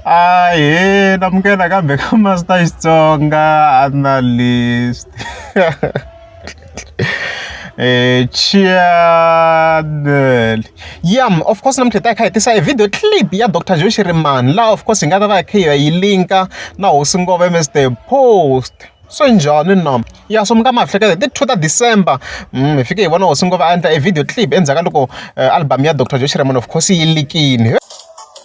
Ahee na amukela ka Master Xitsonga Analyst channel ya of course namuntlha ta kha hi tisa e video clip ya dr joe shirimani laha of course hi nga ta va hi kha hi yi linka na hosi ngova ms the post swi njhani na ya so mi nga ma hleketa ti two ta december mm, hi fike hi vona hosi ngova a endla e video clip endzhaku ka loko eh, album ya dr joe shirimani of course yi likini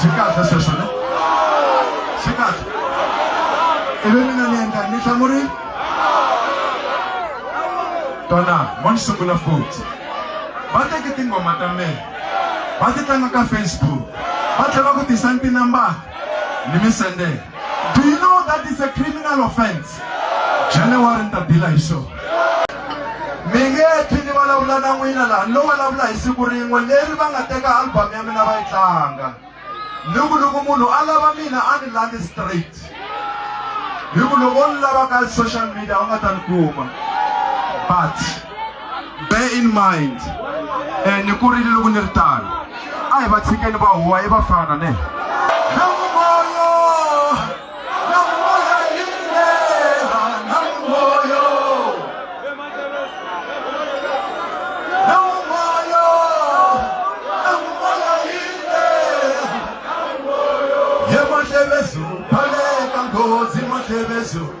swi kahle sweswo ne swi kahle ivi mina ni endla ni hlamuri tona mo ni sungula futhi va teki tinghoma ta mina va ti tlanga ka facebook va tlhela ku tisa ni tinambara ni mi sendela Do you know that is a criminal offense? January ni ta bila hi xona. Mi nge phi ni vulavula na n'wina laha ni lo vulavula hi siku rin'we leri va nga teka album ya mina va yi tlanga. Ni ku loko munhu a lava mina a ni landi straight. Hi ku loko ni lava ka social media u nga ta ni kuma. But bear in mind eh, ni kurile loko ni ri tano a hi va tshikeni va huwa i vafana ne Yemashebezu, Paleka Ngozi Mashebezu.